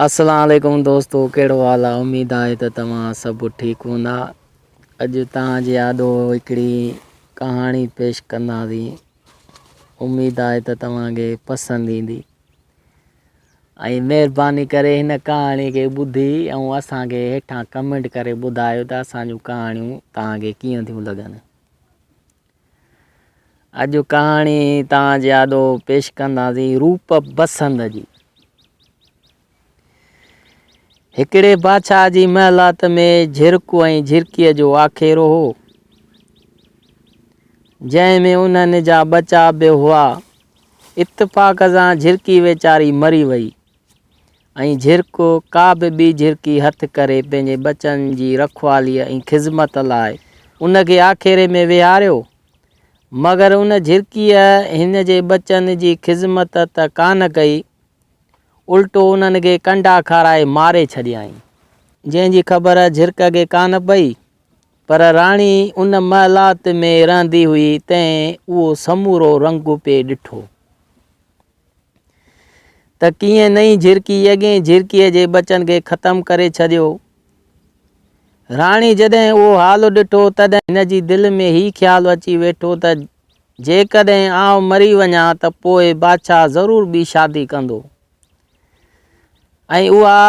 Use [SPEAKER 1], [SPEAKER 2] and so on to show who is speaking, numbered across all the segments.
[SPEAKER 1] السلام عليڪم دوستو ڪهڙو حال آ اميد آهي ته توهان سڀ ٺيڪ هوندا اڄ توهان جي آڏو هڪڙي ڪهاڻي پيش ڪنداسين اميد آهي ته توهان کي پسند ايندي ۽ مهرباني ڪري هن ڪهاڻي کي ٻڌي ۽ اسان کي هيٺان ڪمينٽ ڪري ٻڌايو ته اسان جون ڪهاڻيون توهان کي ڪيئن ٿيون لڳن اڄ ڪهاڻي تان جي آڏو پيش ڪنداسين روپ بسند جي. هڪڙي بادشاهه جي محلات ۾ جھرڪو ۽ جھرڪيء جو آکيرو هو جنهن ۾ انهن جا ٻچا به هئا اتفاق سان جھرڪي ويچاري مري وئي ۽ جھرڪو ڪا به ٻي جھرڪي ھٿ ڪري پنھنجي ٻچن جي رکواليء ۽ خذمت لاء ان کي آکيري ۾ ويھاريو. مگر ان جھرڪيء ھن جي ٻچن جي خذمت ته ڪانه ڪئي، الٽو انھن کي ڪنڊا کارائي ماري ڇڏيائين. جنھن جي خبر جھرڪ کي ڪانه پئي، پر راڻي ان محلات ۾ رھندي ھئي، تنھن اھو سمورو رنگ پئي ڏٺو. ته ڪيئن نئين جهرڪي اڳين جهرڪيء جي ٻچن کي ختم ڪري ڇڏيو. راڻي جڏهن اهو حال ڏٺو، تڏهن هن جي دل ۾ هي خيال اچي ويٺو ته جيڪڏهن آئون مري وڃان ته پوء بادشاهه ضرور ٻي شادي ڪندو ۽ اها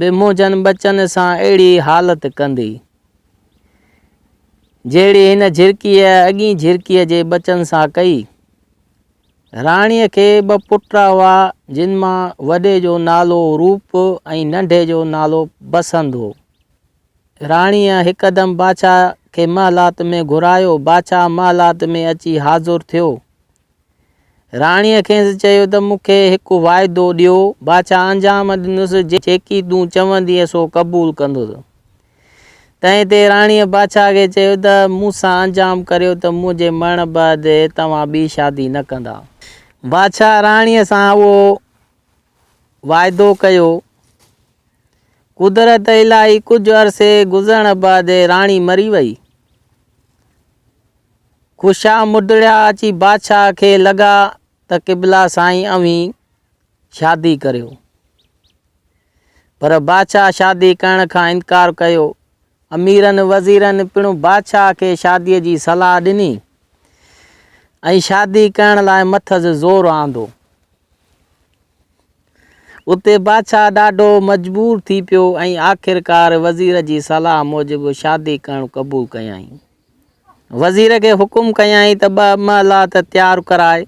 [SPEAKER 1] به منهنجن ٻچن سان اهڙي حالت ڪندي، جهڙي هن جهرڪيء اڳين جهرڪيء جي ٻچن سان ڪئي. راڻيء کي ٻه پٽ هئا، جن مان وڏي جو نالو روپ ۽ ننڍي جو نالو بسنت هو. راڻيء هڪدم بادشاهه کي محلات ۾ گهرايو. بادشاهه محلات ۾ اچي حاضر ٿيو. راڻيء کيس چيو ته مون کي هڪ واعدو ڏيو. بادشاهه انجام ڏنس، جيڪي تون چوندينء سو قبول ڪندس. تنهن تي راڻيء بادشاهه کي چيو ته، مون سان انجام ڪريو ته منهنجي مرڻ بعد توهان ٻي شادي نه ڪندا. بادشاهه راڻيء سان اهو واعدو ڪيو. قدرت الاهي ڪجهه عرصي گذرڻ بعد راڻي مري وئي. خوشا مدڙيا اچي بادشاهه کي لڳا ته قبلا سائين اوهين شادي ڪريو. پر بادشاهه شادي ڪرڻ کان انڪار ڪيو. اميرن وزيرن پڻ بادشاهه کي شاديء جي صلاح ڏني ۽ شادي ڪرڻ لاء مٿس زور آندو. اتي بادشاهه ڏاڍو مجبور ٿي پيو ۽ آخرڪار وزير جي صلاح موجب شادي ڪرڻ قبول ڪيائين. وزير کي حڪم ڪيائين ته ٻه محلات تيار ڪرائي،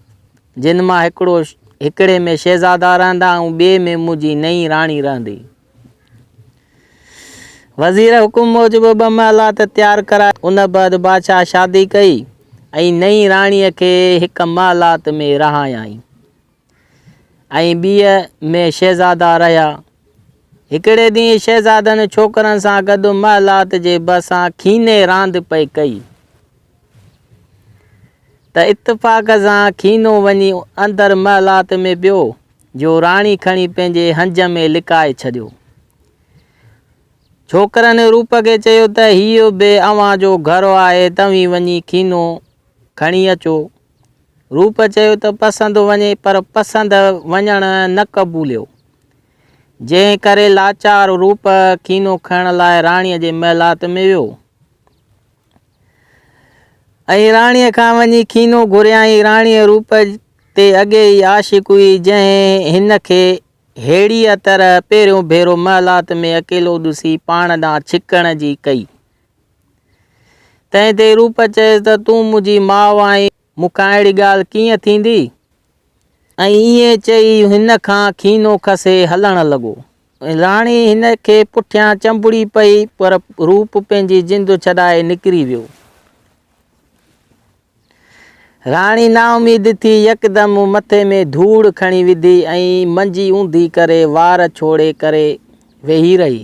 [SPEAKER 1] جن مان هڪڙو هڪڙي ۾ شهزادا رهندا ۽ ٻئي ۾ منهنجي نئين راڻي رهندي. وزير حڪم موجب ٻه محلات تيار ڪرائي. ان بعد بادشاهه شادي ڪئي ۽ نئين راڻيء کي هڪ محلات ۾ رهايائين. ۽ ٻيء ۾ شهزادا رهيا. هڪڙي ڏينهن شهزادن ڇوڪرن سان گڏ محلات جي ڀرسان کيني راند پئي ڪئي ته اتفاق سان کينو وڃي اندر محلات ۾ پيو جو راڻي کڻي پنهنجي هنج ۾ لڪائي ڇڏيو. ڇوڪرن روپ کي چيو ته هيء به اوهان جو گهر آهي توهين وڃي کينو کڻي اچو روپ چيو ته پسندو وڃي پر پسند وڃڻ نه قبوليو، جنهن ڪري لاچار روپ ڪينو کڻڻ لاء راڻيء جي محلات ۾ ويو ۽ راڻيء کان وڃي ڪينو گهريائين. راڻيء روپ تي اڳي ئي عاشق هئي، جنهن هن کي ههڙيء طرح پهريون ڀيرو محلات ۾ اڪيلو ڏسي پاڻ ڏانهن ڇڪڻ جي ڪئي. تنهن تي روپ چيس ته تون منهنجي ماء آهين، مون کان اهڙي ڳالهه ڪيئن ٿيندي؟ ۽ ائين چئي هن کان کينو کسي هلڻ لڳو. راڻي هن کي پٺيان چنبڙي پئي پر روپ پنهنجي جند ڇڏائي نڪري ويو. راڻي نااميد ٿي يڪدم مٿي ۾ ڌوڙ کڻي وڌي ۽ منجي اونڌي ڪري وار ڇوڙي ڪري ويهي رهي.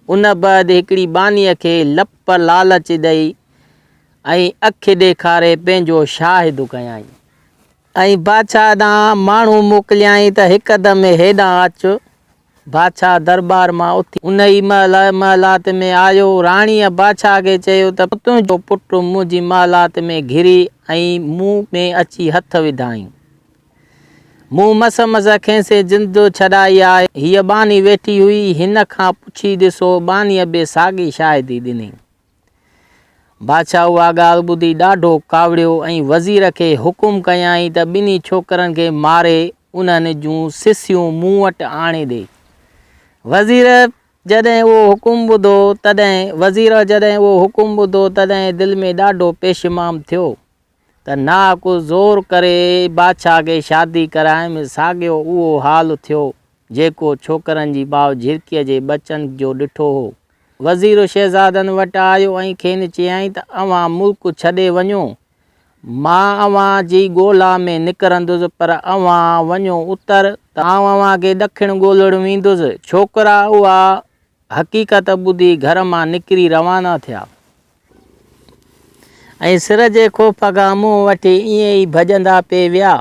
[SPEAKER 1] ان بعد هڪڙي ٻانهيء کي لپ لالچ ڏئي ۽ اک ڏيکاري پنهنجو شاهد ڪيائين. ۽ بادشاهه ڏانهن ماڻهو موڪليائين ته هڪدم هيڏانهن اچ. بادشاهه درٻار مان اٿي ان ئي مهل محلات ۾ آيو. راڻيء بادشاهه کي چيو ته تنهنجو پٽ منهنجي محلات ۾ گهري ۽ مون ۾ اچي هٿ وڌائين. مون مس مس کيسين زندو ڇڏائي آهي. هيء ٻانهي ويٺي هئي. هن کان پڇي ڏسو. ٻانهيء به ساڳي شاهدي ڏني. بادشاهه اها ڳالهه ٻڌي ڏاڍو ڪاوڙيو ۽ وزير کي حڪم ڪيائين ته ٻنهي ڇوڪرن کي ماري انهن جون سسيون مون وٽ آڻي ڏي. وزير جڏهن اهو حڪم ٻڌو تڏهن وزير جڏهن اهو حڪم ٻڌو تڏهن دل ۾ ڏاڍو پيشمام ٿيو. ته ناحق زور ڪري بادشاهه کي شادي ڪرايم، ساڳيو اهو حال ٿيو، جيڪو ڇوڪرن جي ماء جهرڪيء جي ٻچن جو ڏٺو هو. وزير شهزادن وٽ آيو ۽ کين چيائين ته اوهان ملڪ ڇڏي وڃو، مان اوهان جي ڳولا ۾ نڪرندس، پر اوهان وڃو اتر، ته آئون اوهان کي ڏکڻ ڳولڻ ويندس. ڇوڪرا اها حقيقت ٻڌي گهر مان نڪري روانا ٿيا. ۽ سر جي خوف کان منهن وٺي ائين ئي ڀڄندا پئي ويا.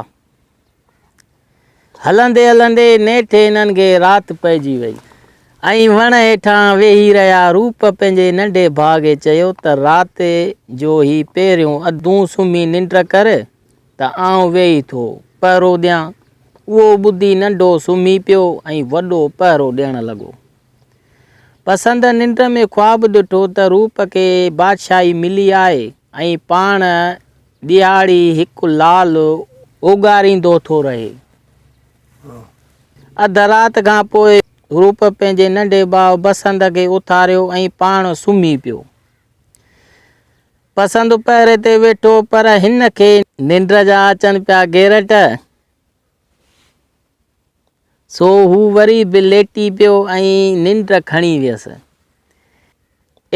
[SPEAKER 1] هلندي هلندي نيٺ هنن کي رات پئجي وئي ۽ وڻ هيٺان ويهي رهيا. روپ پنهنجي ننڍي ڀاء کي چيو ته رات جو هي پهريون ادون سمهي ننڊ ڪر ته آئون ويهي ٿو پهرو ڏيان. اهو ٻڌي ننڍو سمهي پيو ۽ وڏو پهرو ڏيڻ لڳو. پسند ننڊ ۾ خواب ڏٺو ته روپ کي بادشاهي ملي آهي ۽ پاڻ ڏيهاڙي هڪ لال اوڳاريندو ٿو رهي. اڌ رات کان پوء روپ پنهنجي ننڍي ڀاء پسند کي اٿاريو ۽ پاڻ سمهي پيو. پسند پهري تي ويٺو پر هن کي ننڊ جا اچن پيا گيرٽ. سو هو وري به ليٽي پيو ۽ ننڊ کڻي ويس.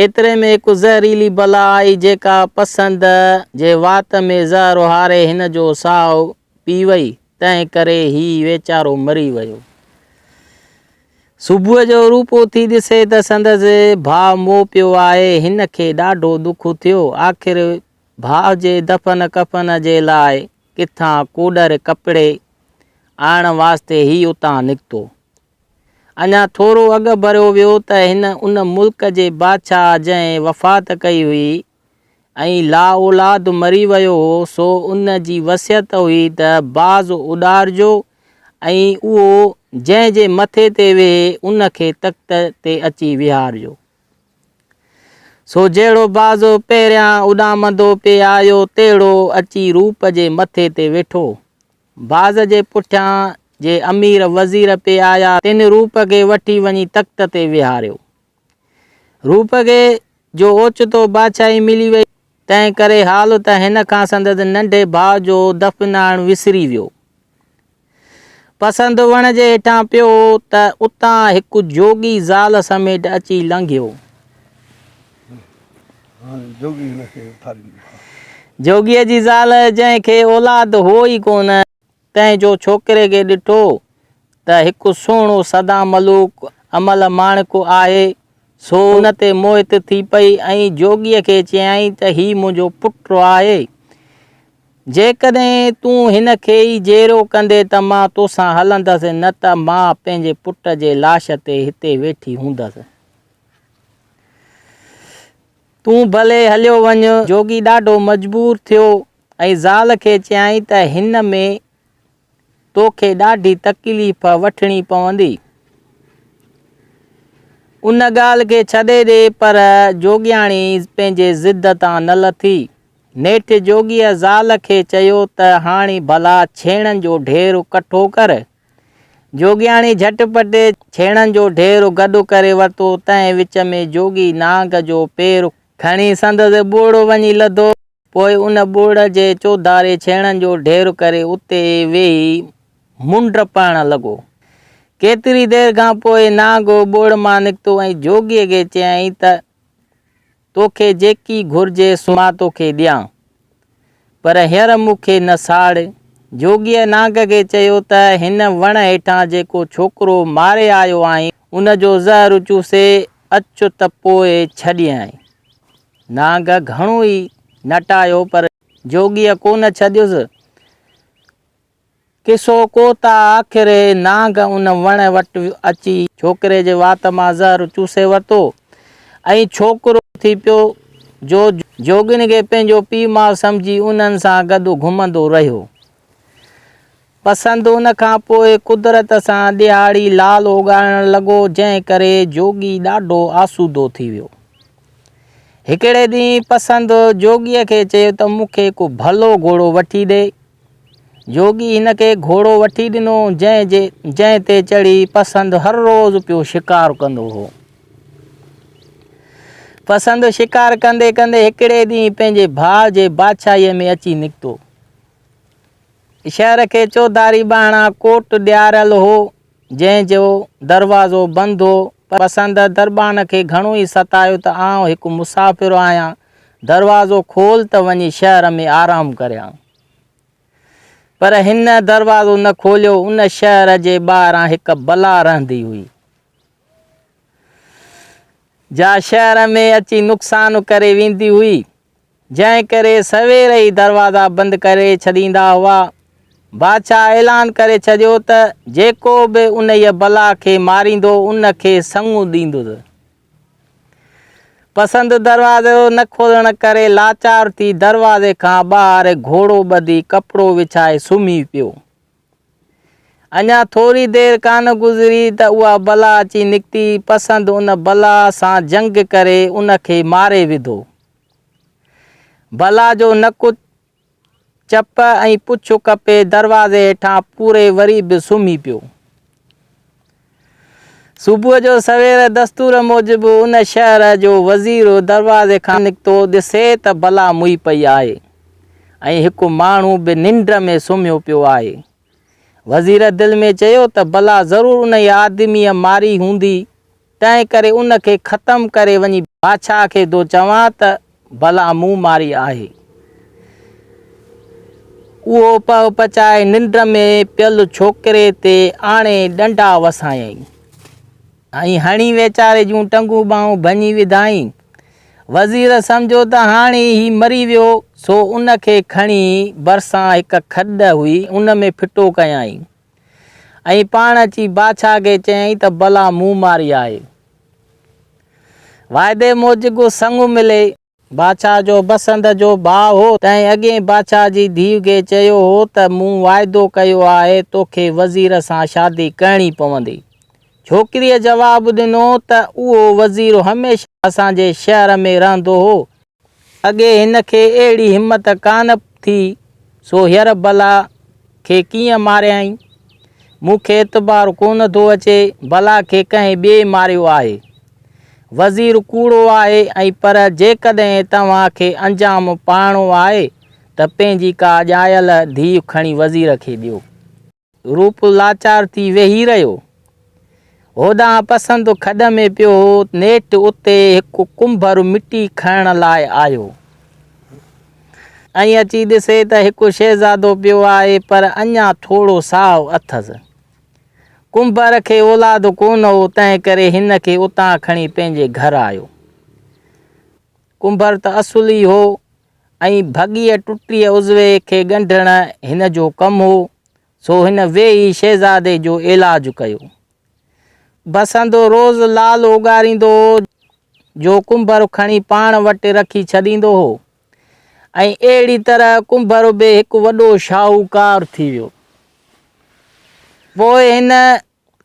[SPEAKER 1] ايتري ۾ هڪ زهريلي بلا آئي جيڪا پسند جي وات ۾ زهر اهاري هن جو ساهه پي وئي، تنهن ڪري هي ويچارو مري ويو. صبح جو روپ اٿي ڏسي ته سندس ڀاء مئو پيو آهي، هن کي ڏاڍو دک ٿيو. آخر ڀاء جي دفن ڪفن جي لاء ڪٿان ڪوڏر ڪپڙي آڻڻ واسطي هي اتان نڪتو. اڃا ٿورو اڳ ڀريو ويو ته هن ان ملڪ جي بادشاهه جنهن وفات ڪئي هئي ۽ لا اولاد مري ويو هو سو ان جي وصيت هئي ته باز اڏارجو ۽ اهو جنهن جي مٿي تي ويهي ان کي تخت تي اچي ويهارجو. سو جهڙو بازو پهريان اڏامندو پئي آيو، تهڙو اچي روپ جي مٿي تي ويٺو. باز جي پٺيان جي امير وزير پئي آيا، تن روپ کي وٺي وڃي تخت تي ويهاريو. روپ کي جو اوچتو بادشاهي ملي وئي، تنهن ڪري حال ته هن کان سندس ننڍي ڀاء جو دفن آڻڻ وسري ويو. پسند وڻ جي هيٺان پيو ته اتان هڪ جوڳي زال سميٽ اچي لنگهيو. جوڳيء جي زال جنهن کي اولاد هو ئي ڪونه. ڪنهن جو ڇوڪري کي ڏٺو ته هڪ سهڻو سدان ملوڪ امل ماڻڪ آهي، سو ان تي موهت ٿي پئي ۽ جوڳيء کي چيائين ته هي منهنجو پٽ آهي، جيڪڏهن تون هن کي ئي جيئرو ڪندين ته مان توسان هلندس نه ته مان پنهنجي پٽ جي لاش تي هتي ويٺي هوندس. تون ڀلي هليو وڃ. جوڳي ڏاڍو مجبور ٿيو. ۽ زال کي چيائين ته هن ۾ توکي ڏاڍي تڪليف وٺڻي پوندي. ان ڳالهه کي ڇڏي ڏي پر جوڳياڻي پنهنجي ضد تان نه لٿي. نيٺ جوڳيء زال کي چيو ته هاڻي ڀلا ڇيڻن جو ڍير ڪٺو ڪر. جوڳياڻي جهٽ پٽ ڇيڻن جو ڍير گڏ ڪري ورتو. تنهن وچ ۾ جوڳي نانگ جو پير. کڻي سندس ٻوڙ وڃي لڌو. پوء ان ٻوڙ جي چوڌاري ڇيڻن جو ڍير ڪري اتي ويهي منڊ پائڻ لڳو. ڪيتري دير کان پوء نانگ ٻوڙ مان نڪتو ۽ جوڳيء کي چيائين ته، توکي جيڪي گهرجي سو مان توکي ڏيان، پر هينئر مون کي نه ساڙ. جوڳيء نانگ کي چيو ته، هن وڻ هيٺان جيڪو ڇوڪرو ماري آيو آهين، ان جو زهر چوسي اچ ته پوء ڇڏينء. نانگ گهڻو ئي نٽايو پر جوڳيء ڪونه ڇڏيس. قصو ڪو ته آخر نانگ ان وڻ وٽ اچي ڇوڪري جي وات مان زهر چوسي ورتو ۽ ڇوڪرو ٿي پيو جو جوڳينگي پنهنجو پيء ماء سمجهي انهن سان گڏ گهمندو رهيو. پسند ان کان پوء قدرت سان ڏيهاڙي لال اوڳاڙڻ لڳو جنهن ڪري جوڳي ڏاڍو آسودو ٿي ويو. هڪڙي ڏينهن پسند جوڳي کي چيو ته مون کي ڪو ڀلو گهوڙو وٺي ڏي. جوڳي هن کي گهوڙو وٺي ڏنو جنهن جي جنهن تي چڙهي پسند هر روز پيو شڪار ڪندو هو. پسند شڪار ڪندي ڪندي هڪڙي ڏينهن پنهنجي ڀاء جي بادشاهي ۾ اچي نڪتو. شهر کي چوڌاري ٻانهان ڪوٽ ڏياريل هو، جنهن جو دروازو بند هو. پسند دربان کي گهڻو ئي ستايو ته آئون هڪ مسافر آهيان، دروازو کول ته وڃي شهر ۾ آرام ڪريان. پر هن دروازو نه کوليو. ان شهر جي ٻاهران هڪ بلا رهندي هئي، جا شهر ۾ اچي نقصان ڪري ويندي هئي. جنهن ڪري سوير ئي دروازا بند ڪري ڇڏيندا هئا. بادشاهه اعلان ڪري ڇڏيو ته جيڪو به انهيء بلا کي ماريندو ان کي سڱو ڏيندس. پسند دروازو نه کولڻ ڪري لاچار ٿي دروازي کان ٻاهر گهوڙو ٻڌي ڪپڙو وڇائي سمهي پيو. اڃا ٿوري دير ڪانه گذري ته اها بلا اچي نڪتي، پسند ان بلا سان جنگ ڪري ان کي ماري وڌو. بلا جو نڪ، چپ ۽ پڇ ڪپي دروازي هيٺان پوري وري به سمهي پيو. صبح جو سوير دستور موجب ان شهر جو وزير دروازي کان نڪتو ڏسي ته بلا موئي پئي آهي ۽ هڪ ماڻهو به ننڊ ۾ سمهيو پيو آهي. وزير دل ۾ چيو ته بلا ضرور انهيء آدميء ماري هوندي، تنهنڪري ان کي ختم ڪري وڃي بادشاهه کي ٿو چوان ته، بلا مون ماري آهي. اهو پهه پچائي ننڊ ۾ پيل ڇوڪري تي آڻي ڏنڊا وسايائين ۽ هڻي ويچاري جون ٽنگون ٻانهون ڀڃي وڌائين. وزير سمجهيو ته هاڻي هي مري ويو، سو ان کي کڻي ڀرسان هڪ کڏ هئي، ان ۾ ڦٽو ڪيائين. ائين پاڻ اچي بادشاهه کي چيائين ته بلا مون ماري آهي. واعدي موجب سڱ ملي. بادشاهه جو بسنت جو ڀاء هو، تنهن اڳئين بادشاهه جي ڌيء کي چيو هو ته مون واعدو ڪيو آهي توکي وزير سان شادي ڪرڻي پوندي. ڇوڪريء جواب ڏنو ته اهو وزير هميشه اسان جي شهر ۾ رهندو هو اڳي هن کي اهڙي همت ڪانه ٿي، سو هينئر بلا کي ڪيئن ماريائين؟ مون کي اعتبار ڪونه ٿو اچي، بلا کي ڪنهن ٻئي ماريو آهي. وزير ڪوڙو آهي ۽ پر جيڪڏهن توهان کي انجام پاڻو آهي ته پنهنجي ڪا ڄايل ڌيء کڻي وزير کي ڏيو. روپ لاچار ٿي ويهي رهيو. هوڏانهن پسندو کڏ ۾ پيو هو، نيٺ اتي هڪ ڪنڀر مٽي کڻڻ لاء آيو ۽ اچي ڏسي ته هڪ شهزادو پيو آهي پر اڃا ٿورو سائو اٿس. ڪنڀر کي اولاد ڪونه هو تنهنڪري هن کي اتان کڻي پنهنجي گهر آيو. ڪنڀر ته اصلي هو. ۽ ڀڳيء ٽٽيء عضوي کي ڳنڍڻ هن جو ڪم هو، سو هن ويهي شهزادي جو علاج ڪيو. بسندو روز لال اوڳاريندو هو، جو ڪنڀر کڻي پاڻ وٽ رکي ڇڏيندو هو، ۽ اهڙي طرح ڪنڀر به هڪ وڏو شاهوڪار ٿي ويو. پوء هن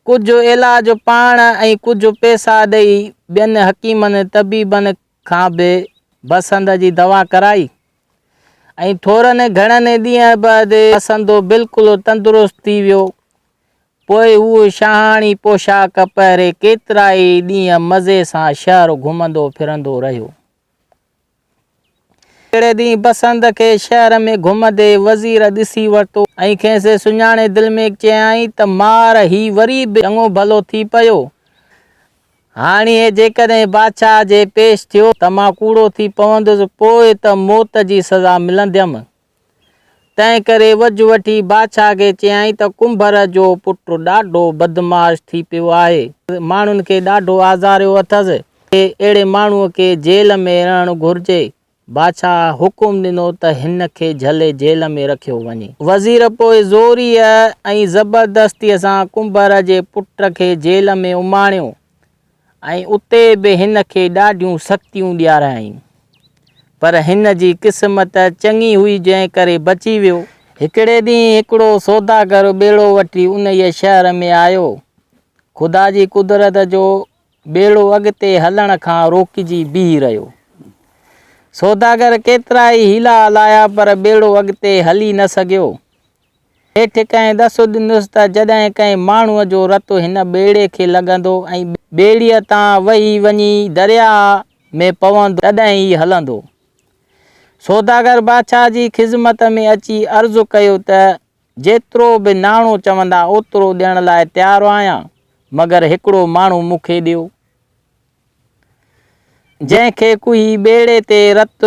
[SPEAKER 1] ڪجهه علاج پاڻ ۽ ڪجهه پئسا ڏئي ٻين حڪيمن طبيبن کان به بسنڌ جي دوا ڪرائي ۽ ٿورن ئي گهڻن ئي ڏينهن بعد بسنڌو بلڪل تندرست ٿي ويو. پوء هو شاهاڻي پوشاڪ پهري ڪيترائي ڏينهن مزي سان شهر گهمندو ڦرندو رهيو. هڪڙي ڏينهن بسنڌ کي شهر ۾ گهمندي وزير ڏسي ورتو ۽ کيس سڃاڻي دل ۾ چيائين ته مار هي وري به چڱو ڀلو ٿي پيو. هاڻي هي جيڪڏهن بادشاهه جي پيش ٿيو ته مان ڪوڙو ٿي پوندس، پوء ته موت جي سزا ملنديم. تنهنڪري وجهه وٺي بادشاهه کي چيائين ته ڪنڀر جو پٽ ڏاڍو بدمعاش ٿي پيو آهي. ماڻهن کي ڏاڍو آزاريو اٿس. اهڙي ماڻهوء کي جيل ۾ رهڻ گهرجي. بادشاهه حڪم ڏنو ته هن کي جهلي جيل ۾ رکيو وڃي. وزير پوء زوريء ۽ زبردستيء سان ڪنڀر جي پٽ کي جيل ۾ اماڻيو ۽ اتي به هن کي ڏاڍيون سختيون ڏياريائين. پر هن جي قسمت چڱي هئي جنهن ڪري بچي ويو. هڪڙي ڏينهن هڪڙو سوداگر ٻيڙو وٺي انهيء شهر ۾ آيو. خدا جي قدرت جو ٻيڙو اڳتي هلڻ کان روڪجي بيهي رهيو. سوداگر ڪيترائي حيلا آلايا پر ٻيڙو اڳتي هلي نه سگهيو. نيٺ ڪنهن ڏس ڏنس ته جڏهن ڪنهن ماڻهوء جو رت هن ٻيڙي کي لڳندو ۽ ٻيڙيء تان وهي وڃي درياهه ۾ پوندو تڏهن هي هلندو. سوداگر بادشاهه جي خذمت ۾ اچي عرض ڪيو ته جيترو به ناڻو چوندا اوترو ڏيڻ لاء تيار آهيان مگر هڪڙو ماڻهو مون کي ڏيو جنهن کي ڪوهي ٻيڙي تي رت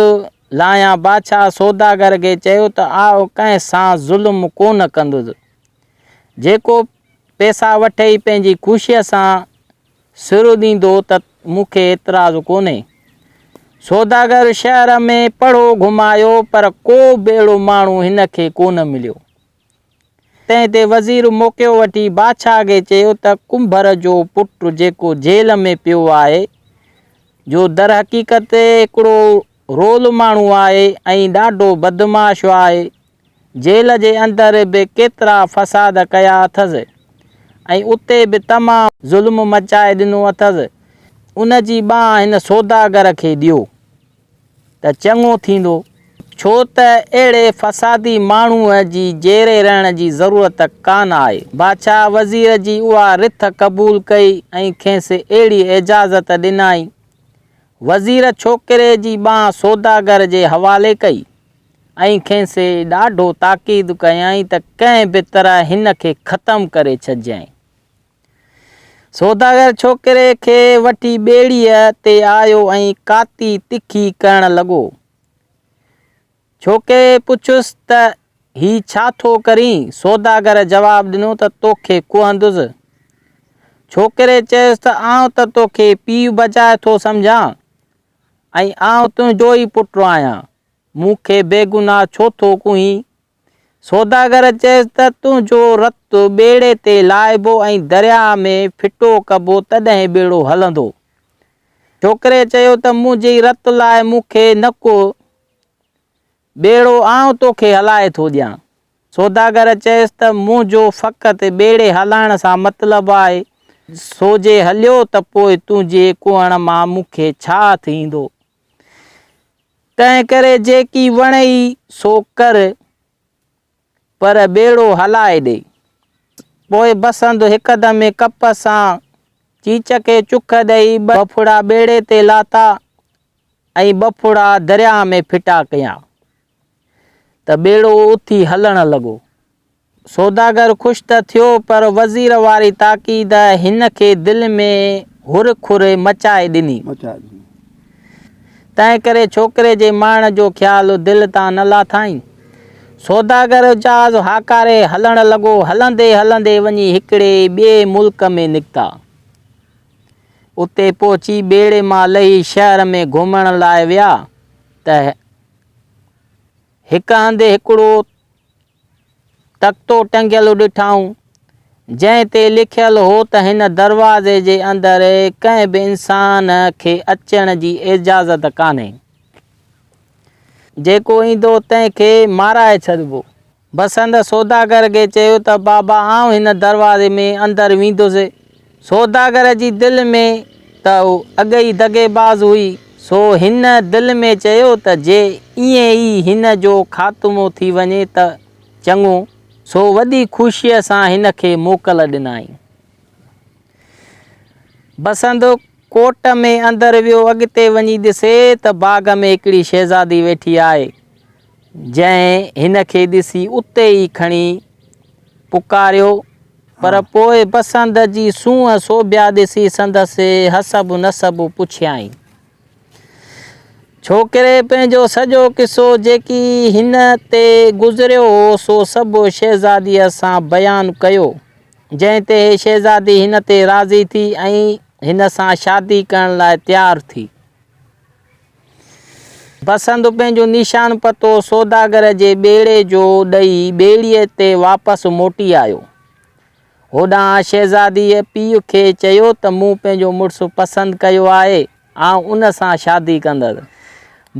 [SPEAKER 1] لاهيان بادشاهه سوداگر کي چيو ته آء ڪنهن سان ظلم ڪونه ڪندس جيڪو پيسا وٺي پنهنجي خوشيء سان سر اڏيندو ته مون کي اعتراض ڪونهي. سوداگر شهر ۾ پڙهو گهمايو پر ڪو به اهڙو ماڻهو هن کي ڪونه مليو. تنهن تي وزير موقعو وٺي بادشاهه کي چيو ته ڪنڀر جو پٽ جيڪو جيل ۾ پيو آهي، جو درحقيقت هڪڙو رول ماڻهو آهي ۽ ڏاڍو بدمعاش آهي، جيل جي اندر به ڪيترا فساد ڪيا اٿس ۽ اتي به تمام ظلم مچائي ڏنو اٿس، ان جي ٻانهن هن سوداگر کي ڏيو ته چڱو ٿيندو، ڇو ته اهڙي فسادي ماڻهوء جي جيري رهڻ جي ضرورت ڪانه آهي. بادشاهه وزير جي اها رٿ قبول ڪئي ۽ کيس اهڙي اجازت ڏنائين. وزير ڇوڪري جي ٻانهن سوداگر جي حوالي ڪئي. ۽ کين سي ڏاڍو تاڪيد ڪيائين ته ڪنهن به طرح هن کي ختم ڪري ڇڏجانء. سوداگر ڇوڪري کي وٺي ٻيڙيء تي آيو ۽ ڪاتي تکي ڪرڻ لڳو. ڇوڪري پڇيس ته هي ڇا ٿو ڪرين؟ سوداگر جواب ڏنو ته توکي ڪهندس. ڇوڪري چيس ته آئون ته توکي پيء بجاء ٿو سمجهان. ۽ آئون تنهنجو ئي پٽ آهيان، مون کي بيگناهه ڇو ٿو ڪوهين؟ سوداگر چيس ته تنهنجو رت ٻيڙي تي لاهبو ۽ درياهه ۾ ڦٽو ڪبو تڏهن ٻيڙو هلندو. ڇوڪري چيو ته منهنجي رت لاء مون کي نه ڪوهه. ٻيڙو آئون توکي هلائي ٿو ڏيان. سوداگر چيس ته منهنجو فقط ٻيڙي هلائڻ سان مطلب آهي، سو جي هليو ته پوء تنهنجي ڪوهڻ مان مون کي ڇا هٿ ايندو؟ تنهن ڪري جيڪي وڻئي سو ڪر. پر ٻيڙو هلائي ڏي. پوء بسنت هڪدمي ڪپ سان چيچ کي چڪ ڏئي ٻه ڦڙا ٻيڙي تي لاٿا ۽ ٻه ڦڙا درياهه ۾ ڦٽا ڪيا ته ٻيڙو اٿي هلڻ لڳو. سوداگر خوش ته ٿيو پر وزير واري تاڪيد هن کي دل ۾ هر کر مچائي ڏني. تنهن ڪري ڇوڪري جي مائڻ جو خيال دل تان نه لاٿائين. سوداگر جهاز هاڪاري هلڻ لڳو، هلندي هلندي وڃي هڪڙي ٻئي ملڪ ۾ نڪتا. اتي پهچي ٻيڙي مان لهي شهر ۾ گهمڻ لاء ويا ته هڪ هنڌ هڪڙو تختو ٽنگيل ڏٺائون، جنهن تي لکيل هو ته هن دروازي جي اندر ڪنهن به انسان کي اچڻ جي اجازت ڪانهي. جيڪو ايندو تنهن کي مارائي ڇڏبو. بسنت سوداگر کي چيو ته بابا آئون هن دروازي ۾ اندر ويندس. سوداگر جي دل ۾ ته هو اڳ ئي دغيباز هئي، سو هن دل ۾ چيو ته جي ائين ئي هن جو خاتمو ٿي وڃي ته چڱو، سو وڏي خوشيء سان هن کي موڪل ڏنائين. بسنت ڪوٽ ۾ اندر ويو، اڳتي وڃي ڏسي ته باغ ۾ هڪڙي شهزادي ويٺي آهي. جنهن هن کي ڏسي اتي ئي کڻي پڪاريو، پر پوء پسند جي سونهن سوڀيا ڏسي سندس حسب نسب پڇيائين. ڇوڪري پنهنجو سڄو قصو جيڪي هن تي گذريو هو سو سڀ شهزاديء سان بيان ڪيو، جنهن تي شهزادي هن تي راضي ٿي ۽ هن سان شادي ڪرڻ لاء تيار ٿي. بسنت پنهنجو نيشان پتو سوداگر جي ٻيڙي جو ڏئي ٻيڙيء تي واپس موٽي آيو. هوڏانهن شهزاديء پيء کي چيو ته مون پنهنجو مڙس پسند ڪيو آهي، آئون ان سان شادي ڪندس.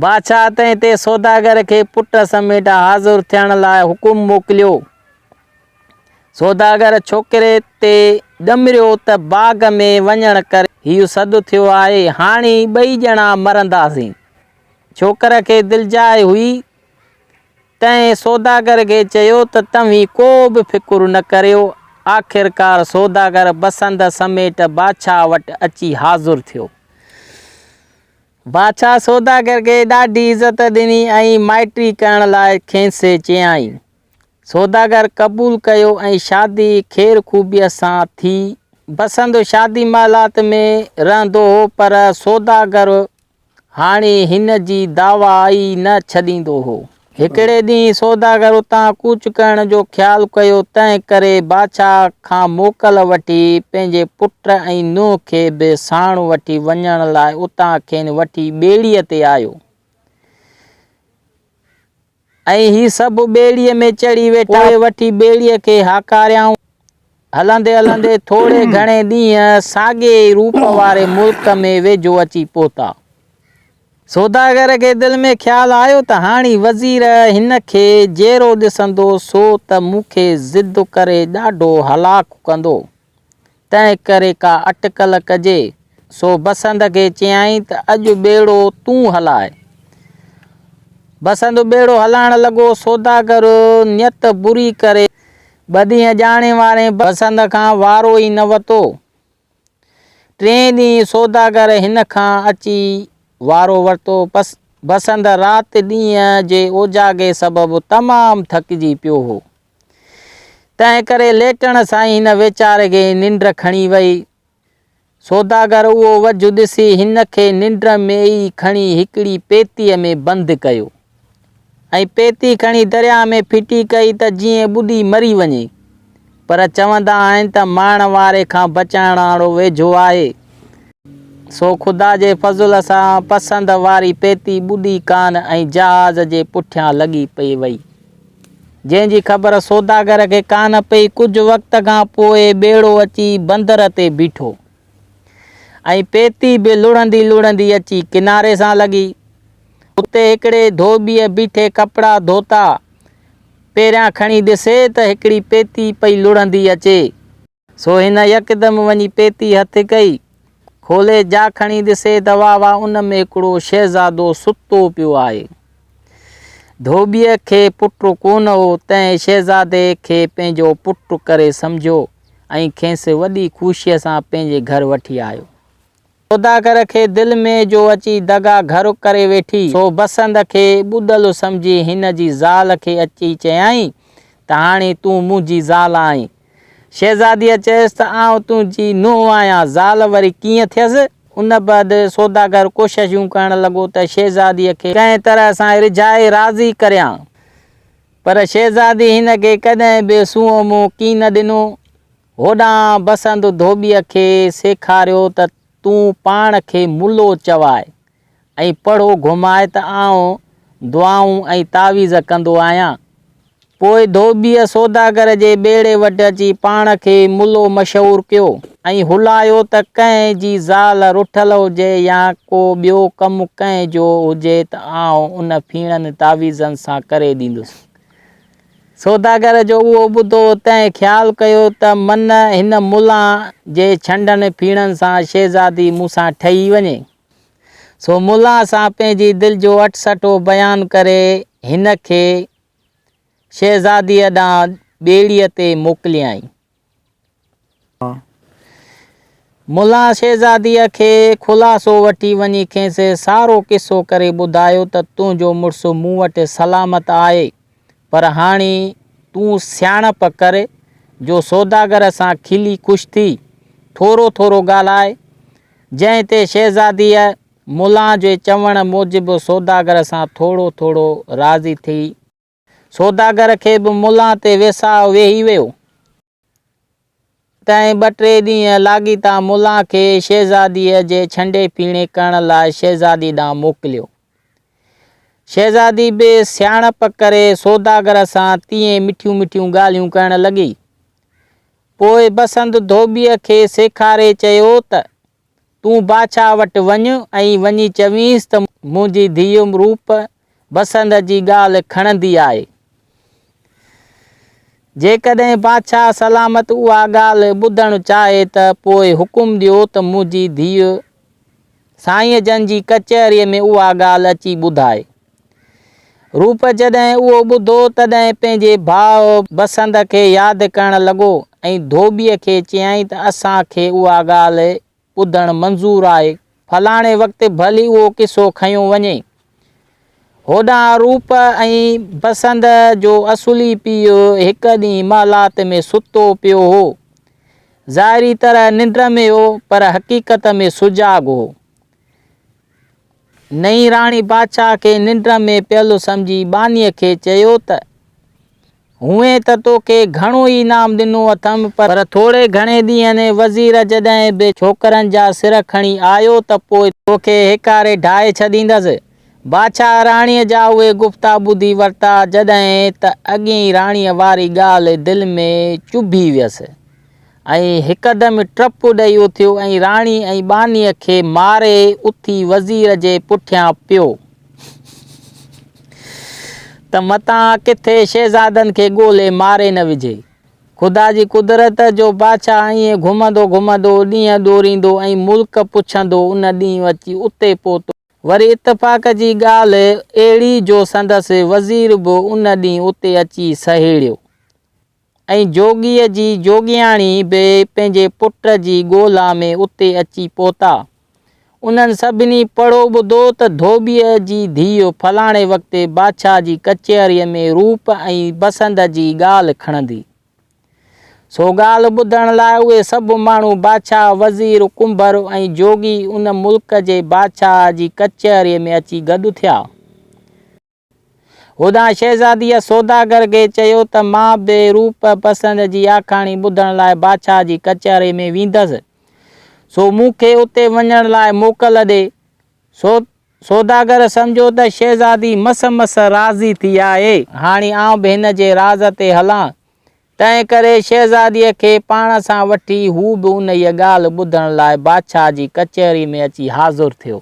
[SPEAKER 1] بادشاهه تنهن تي سوداگر کي پٽ سميٽ حاضر ٿيڻ لاء حڪم موڪليو. سوداگر ڇوڪري تي ڄمريو ته باغ ۾ وڃڻ ڪري هي سڌ ٿيو آهي، هاڻي ٻئي ڄڻا مرنداسين. ڇوڪر کي دلجاء هئي، تنهن سوداگر کي چيو ته توهين ڪو به فڪر نه ڪريو. آخرڪار سوداگر بسنت سميٽ بادشاهه وٽ اچي حاضر ٿيو. بادشاهه سوداگر کي ڏاڍي عزت ڏني ۽ مائٽي ڪرڻ لاء کينسي چيائين. سوداگر قبول ڪيو ۽ شادي خير خوبيء سان ٿي. بسنت شادي محلات ۾ رهندو هو پر سوداگر هاڻي هن جي دعويٰ ئي نه ڇڏيندو هو. هڪڙي ڏينهن سوداگر اتان ڪوچ ڪرڻ جو خيال ڪيو، تنهن ڪري بادشاهه کان موڪل وٺي پنهنجي پٽ ۽ نوح کي به ساڻ وٺي وڃڻ لاء اتان کين وٺي ٻيڙيء تي آيو. ۽ هي سڀ ٻيڙيء ۾ چڙهي ويٺا، پوء وٺي ٻيڙيء کي هاڪاريائون. هلندي هلندي ٿوري گهڻي ڏينهن ساڳئي ئي روپ واري ملڪ ۾ ويجهو اچي پهتا. سوداگر کي دل ۾ خيال آيو ته هاڻي وزير هن کي جيرو ڏسندو سو ته مون کي ضد ڪري ڏاڍو هلاڪ ڪندو. تنهنڪري ڪا اٽڪل ڪجي. سو بسنت کي چيائين ته اڄ ٻيڙو تون هلاء. بسنت ٻيڙو هلائڻ لڳو. سوداگر نيت بري ڪري ٻه ڏينهن ڄاڻي وارين بسنت کان وارو ئي نه وتو. ٽئين ڏينهن سوداگر هن کان اچي وارو ورتو. بسنت رات ڏينهن جي اوجاڳي سبب تمام ٿڪجي پيو هو. تنهن ڪري ليٽڻ سان ئي هن ويچاري کي ننڊ کڻي وئي. سوداگر اهو وجهه ڏسي هن کي ننڊ ۾ ئي کڻي هڪڙي پيتيء ۾ بند ڪيو ۽ پيتي کڻي درياء ۾ ڦٽي ڪئي ته جيئن ٻڏي مري وڃي. پر چوندا آهن ته مارڻ واري کان بچائڻ وارو ويجهو آهي. سو خدا جي فضل سان پسند واري پيتي ٻڏي ڪانه ۽ جهاز جي پٺيان لڳي پئي وئي. جنهن جي خبر سوداگر کي ڪانه پئي. ڪجهه وقت کان پوء ٻيڙو اچي بندر تي بيٺو ۽ پيتي به لڙهندي لڙهندي اچي ڪناري سان لڳي. اتي هڪڙي ڌوٻيء بيٺي ڪپڙا ڌوتا. پهريان کڻي ڏسي ته هڪڙي پيتي پئي لڙهندي اچي. سو هن يڪدم وڃي پيتي هٿ ڪئي. کولي جا کڻي ڏسي ته واهه واهه ان ۾ هڪڙو شهزادو ستو پيو آهي. ڌوٻيء کي پٽ ڪونه هو، تنهن شهزادي کي پنهنجو پٽ ڪري سمجهيو ۽ کيس وڏي خوشيء سان پنهنجي گهر وٺي آيو. سوداگر کي دل ۾ جو اچي دغا گهر ڪري ويٺي، سو بسنت کي ٻڏل سمجهي هن جي زال کي اچي چيائين ته هاڻي تون منهنجي زال آهين. شهزاديء چيس ته آئون تنهنجي نونهن آهيان، زال وري ڪيئن ٿيس؟ ان بعد سوداگر ڪوششون ڪرڻ لڳو ته شهزاديء کي ڪنهن طرح سان رجهائي راضي ڪريان، پر شهزادي هن کي ڪڏهن به سونهون منهن ڪين ڏنو. هوڏانهن بسنت ڌوٻيء کي سيکاريو ته تون پاڻ کي ملو چواء ۽ پڙهو گهماء ته آئون دعائون ۽ تعويذ ڪندو آهيان. پوء ڌوٻيء سوداگر جي ٻيڙي وٽ اچي پاڻ کي ملو مشهور ڪيو ۽ هلايو ته ڪنهن جي زال رٺل هجي يا ڪو ٻيو ڪم ڪنهن جو هجي ته آئون ان ڦيڻن تعويذن سان ڪري ڏيندس. سوداگر جو اهو ٻڌو ته ۽ خيال ڪيو ته من هن ملان جي ڇنڊن ڦيڻن سان شهزادي مون سان ٺهي وڃي. سو ملان سان پنهنجي دل جو اٽسٽو بيان ڪري هن کي شهزاديء ڏانهن ٻيڙيء تي موڪليائين. ملا شهزاديء کي خلاصو وٺي وڃي کيس سارو قصو ڪري ٻڌايو ته تنهنجو مڙس مون وٽ سلامت آهي، پر هاڻي تون سياڻپ ڪر جو سوداگر سان کلي خوش ٿي، ٿورو ٿورو ڳالهاء. جنهن تي شهزاديء ملا جي چوڻ موجب سوداگر سان ٿورو ٿورو راضي ٿي. سوداگر کي به ملان تي ويساهه ويهي ويو. تنهن ٻه ٽي ڏينهن لاڳيتا ملان کي شهزاديء جي ڇنڊي پيڻي ڪرڻ لاء شهزادي ڏانهن موڪليو. شهزادي به سياڻپ ڪري سوداگر سان تيئن مٺيون مٺيون ڳالهيون ڪرڻ لڳي. پوء بسنت ڌوٻيء کي سيکاري چيو ته. تون بادشاهه وٽ وڃ ۽ وڃي چوينس ته منهنجي ڌيء روپ بسنت جي ڳالهه کڻندي آهي. جيڪڏهن بادشاهه سلامت اها ڳالهه ٻڌڻ چاهي ته پوء حڪم ڏيو ته منهنجي ڌيء سائين جن جي ڪچهريء ۾ اها ڳالهه اچي ٻڌائي. روپ جڏهن اهو ٻڌو تڏهن پنهنجي ڀاء بسنت کي ياد ڪرڻ لڳو ۽ ڌوٻيء کي چيائين ته اسان کي اها ڳالهه ٻڌڻ منظور آهي. فلاڻي وقت ڀلي اهو قصو کنيو وڃي. هوڏانهن روپ ۽ بسنت جو اصلي پيء هڪ ڏينهن محلات ۾ ستو پيو هو. ظاهري طرح ننڊ ۾ هو پر حقيقت ۾ سجاڳ هو. نئين راڻي بادشاهه کي ننڊ ۾ پيل سمجهي ٻانهيء کي چيو ته، هونئن ته توکي گهڻو ئي انعام ڏنو اٿم، پر ٿوري گهڻي ڏينهن ۾ وزير جڏهن به ڇوڪرن جا سر کڻي آيو ته پوء توکي هيڪاري ڍائي ڇڏيندس. بادشاهه راڻيء جا اهي گفتا ٻڌي ورتا، جڏهن ته اڳين راڻيء واري ڳالهه دل ۾ چڀي ويس. ۽ هڪدم ٽپ ڏئي اٿيو ۽ راڻي ۽ ٻانهيء کي ماري اٿي وزير جي پٺيان پيو ته متان ڪٿي شهزادن کي ڳولي ماري نه وجهي. خدا جي قدرت جو بادشاهه ائين گهمندو گهمندو ڏينهن ڏوريندو ۽ ملڪ پڇندو ان ڏينهن اچي اتي پهتو. وري اتفاق جي ڳالهه اهڙي جو سندس وزير به ان ڏينهن اتي اچي سهيڙيو. ۽ جوڳيء جي جوڳياڻي به پنهنجي پٽ جي ڳولا ۾ اتي اچي پهتا. انهن سڀني پڙهو ٻڌو ته ڌوٻيء جي ڌيء فلاڻي وقت بادشاهه جي ڪچهريء ۾ روپ ۽ بسند جي ڳالهه کڻندي. سو ڳالهه ٻڌڻ لاء اهي سڀ ماڻهو بادشاهه، وزير، ڪنڀر ۽ جوڳي ان ملڪ جي بادشاهه جي ڪچهريء ۾ اچي گڏ ٿيا. هوڏانهن شهزاديء سوداگر کي چيو ته مان به روپ پسند جي آکاڻي ٻڌڻ لاء بادشاهه جي ڪچهري ۾ ويندس، سو مون کي اتي وڃڻ لاء موڪل ڏي. سو سوداگر سمجهيو ته شهزادي مس مس راضي ٿي آهي، هاڻي آئون به هن جي راز تي هلان. تنهنڪري شهزاديء کي پاڻ سان وٺي هو به انهيء ڳالهه ٻڌڻ لاء بادشاهه جي ڪچهري ۾ اچي حاضر ٿيو.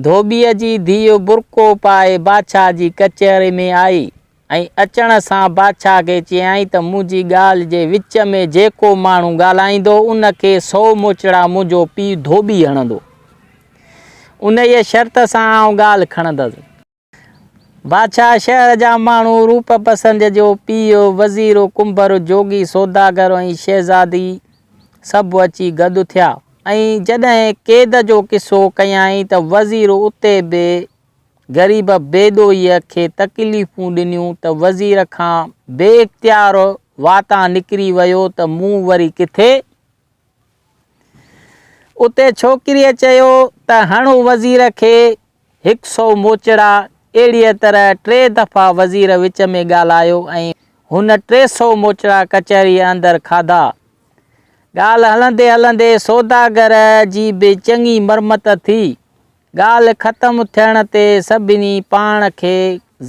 [SPEAKER 1] ڌوٻيء جي ڌيء برقعو پائي بادشاهه جي ڪچهري ۾ آئي ۽ اچڻ سان بادشاهه کي چيائين ته منهنجي ڳالهه جي وچ ۾ جيڪو ماڻهو ڳالهائيندو ان کي سؤ موچڙا منهنجو پيء ڌوٻي هڻندو. انهيء شرط سان آئون ڳالهه کڻندس. بادشاهه شهر جا ماڻهو، روپ پسنج جو پيء، وزير، ڪنڀر، جوڳي، سوداگر ۽ شهزادي سڀ اچي گڏ ٿيا ۽ جڏهن قيد جو قصو ڪيائين ته وزير اتي به غريب بيدوئيء کي تڪليفون ڏنيون ته وزير کان بي اختيار واتان نڪري ويو ته مون وري ڪٿي اتي ڇوڪريء چيو ته هڻ وزير کي هڪ سئو موچڙا. اهڙيء طرح ٽي دفعا وزير وچ ۾ ڳالهايو ۽ هن ٽي سئو موچڙا ڪچهريء اندر کاڌا. ڳالهه هلندي هلندي سوداگر جي به چڱي مرمت ٿي. ڳالهه ختم ٿيڻ تي سڀني پاڻ کي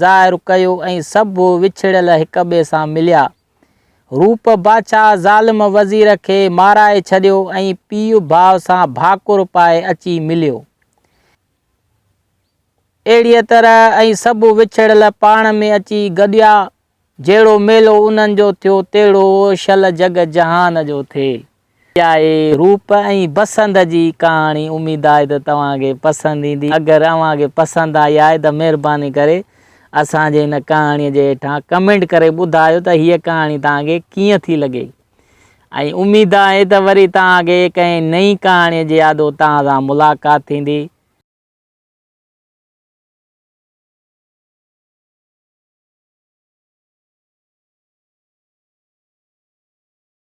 [SPEAKER 1] ظاهر ڪيو ۽ سڀ وڇڙيل هڪٻئي سان مليا. روپ باچاهه ظالم وزير کي مارائي ڇڏيو ۽ پيء ڀاء سان ڀاڪر پائي اچي مليو. اهڙيء طرح ۽ سڀ وڇڙيل پاڻ ۾ اچي گڏيا. جهڙو ميلو انهن جو ٿيو تهڙو شل جڳ جهان جو ٿئي. پياري روپ ۽ بسنت جي ڪهاڻي اميد آهي ته توهان کي پسند ايندي اگر اوهان کي پسند آئي آهي ته مهرباني ڪري اسان جي هن ڪهاڻي جي هيٺان ڪمينٽ ڪري ٻڌايو ته هيء ڪهاڻي توهان کي ڪيئن ٿي لڳي ۽ اميد آهي ته وري توهان کي ڪنهن نئين ڪهاڻي جي آڏو توهان سان ملاقات ٿيندي.